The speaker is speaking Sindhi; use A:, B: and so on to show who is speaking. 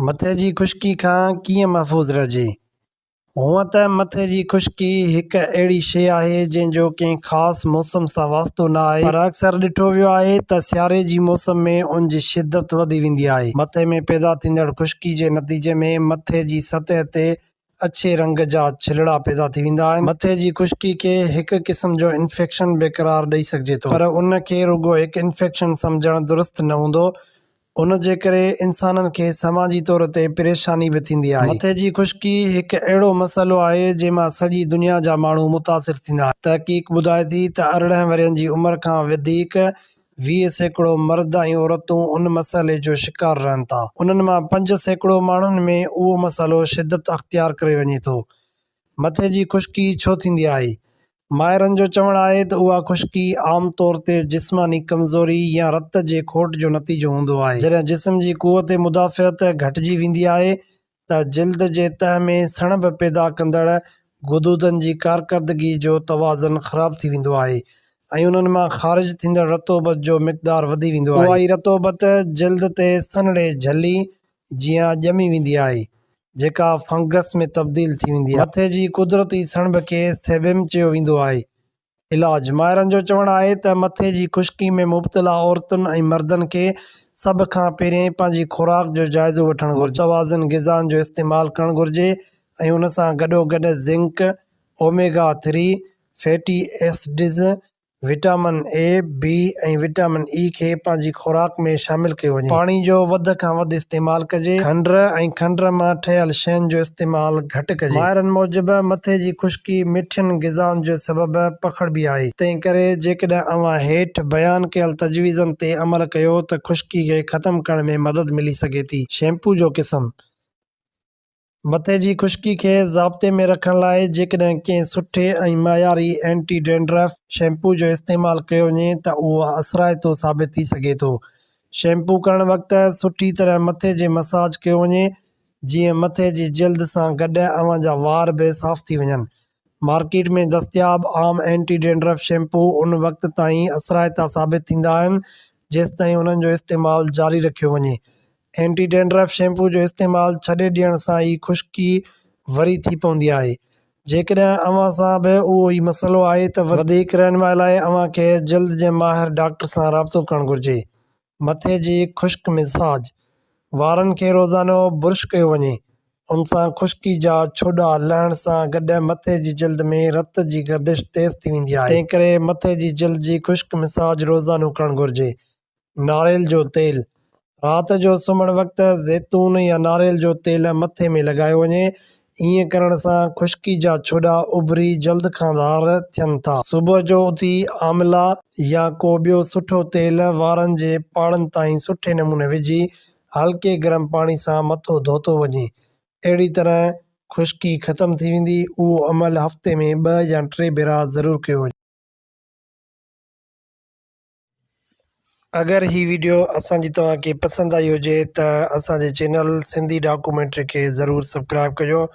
A: مٿي جي خشڪي کان ڪيئن محفوظ رهجي؟ هونئن ته مٿي جي خشڪي هڪ اهڙي شيء آهي جنهن جو ڪنهن خاص موسم سان واسطو نه آهي پر اڪثر ڏٺو ويو آهي ته سياري جي موسم ۾ ان جي شدت وڌي ويندي آهي. مٿي ۾ پيدا ٿيندڙ خشڪي جي نتيجي ۾ مٿي جي سطح تي اڇي رنگ جا ڇلڙا پيدا ٿي ويندا آهن. مٿي جي خشڪي کي هڪ قسم جو انفيڪشن به قرار ڏئي سگهجي ٿو پر ان کي رڳو هڪ انفيڪشن سمجهڻ درست نه هوندو. ان جي ڪري انسانن کي سماجي طور تي پريشاني به ٿيندي آهي. مٿي جي خشڪي هڪ اهڙو مسئلو آهي جنهن مان سڄي دنيا جا ماڻهو متاثر ٿيندا آهن. تحقيق ٻڌائي ٿي ته ارڙهن ورهين جي عمر کان وڌيڪ ويهه سيڪڙو مرد ۽ عورتون ان مسئلي جو شڪار رهن ٿا. انهن مان پنج سيڪڙو ماڻهن ۾ اهو مسئلو شدت اختيار ڪري وڃي ٿو. مٿي جي خشڪي ڇو ٿيندي آهي؟ ماهرن جو چوڻ آهي ته اها خشڪي عام طور تي جسماني ڪمزوري يا رت جي کوٽ جو نتيجو هوندو آهي. جڏهن جسم جي قوت مدافعت گهٽجي ويندي آهي ته جلد جي تهه ۾ سڻڀ پيدا ڪندڙ غدودن جي ڪارڪردگي جو توازن خراب ٿي ويندو آهي ۽ انهن مان خارج ٿيندڙ رطوبت جو مقدار وڌي ويندو آهي. اهائي رطوبت جلد تي سنهڙي جھلي جيان ڄمي ويندي آهي، جيڪا فنگس ۾ تبديل ٿي ويندي آهي. مٿي جي قدرتي سڻڀ کي سيبيم چيو ويندو آهي، علاج، ماهرن جو چوڻ آهي ته مٿي جي خشڪي ۾ مبتلا عورتن ۽ مردن کي سڀ کان پهرين پنهنجي خوراڪ جو جائزو وٺڻ گهرجي، متوازن غذائن جو استعمال ڪرڻ گهرجي ۽ ان سان گڏوگڏ zinc, omega three fatty acids, vitamin E, B ۽ vitamin E کي پنهنجي خوراڪ ۾ شامل ڪيو وڃي. پاڻي جو وڌ کان وڌ استعمال ڪجي. کنڊ ۽ کنڊ مان ٺهيل شين جو استعمال گهٽ ڪجي. ماهرن موجب مٿي جي خشڪي. ڪي مٺين غذائن جي سبب پکڙبي آهي. تنهن ڪري جيڪڏهن اوهان هيٺ بيان ڪيل تجويزن تي عمل ڪيو ته خشڪي کي ختم ڪرڻ ۾ مدد ملي سگهي ٿي. شيمپو جو قسم. مٿي جي خشڪي کي ضابطي ۾ رکڻ لاء جيڪڏهن ڪنهن سٺي ۽ معياري اينٽي ڊينڊرف شيمپو جو استعمال ڪيو وڃي ته اهو اثرائتو ثابت ٿي سگهي ٿو. شيمپو ڪرڻ وقت سٺي طرح مٿي جي مساج ڪيو وڃي جيئن مٿي جي جلد سان گڏ اوهان جا وار به صاف ٿي وڃن. مارڪيٽ ۾ دستياب عام اينٽي ڊينڊرف شيمپو ان وقت تائين اثرائتا ثابت ٿيندا آهن جيستائين انهن جو استعمال جاري رکيو وڃي. اينٽي ڊينڊرف شيمپو جو استعمال ڇڏي ڏيڻ سان ئي خشڪي وري ٿي پوندي آهي. جيڪڏهن اوهان سان به اهو ئي مسئلو آهي ته وڌيڪ رهنمائي لاء اوهان کي جلد جي ماهر ڊاڪٽر سان رابطو ڪرڻ گهرجي. مٿي جي خشڪ مزاج وارن کي روزانو برش ڪيو وڃي ان سان خشڪي جا ڇوڏا لهڻ سان گڏ مٿي جي جلد ۾ رت جي گردش تيز ٿي ويندي آهي تنهن ڪري مٿي جي جلد جي خشڪ مزاج روزانو ڪرڻ گهرجي. ناريل جو تيل، رات جو سمهڻ وقت زيتون يا ناريل جو تيل مٿي ۾ لڳايو وڃي ائين ڪرڻ سان خشڪي جا ڇوڏا اڀري جلد کان ڌار ٿين ٿا. صبح جو اٿي آملا يا ڪو ٻيو سٺو تيل وارن جي پاڙن تائين سٺي نموني وجهي هلڪي گرم پاڻي سان مٿو ڌوتو وڃي. اهڙي طرح خشڪي ختم ٿي ويندي. اهو عمل هفتي ۾ ٻه يا ٽي ڀيرا ضرور ڪيو وڃي. اگر هي ويڊيو اسان جي توهان کي پسند آئي هجي ته اسان جي چينل سنڌي ڊاڪومينٽري کي ضرور سبڪرائب ڪجو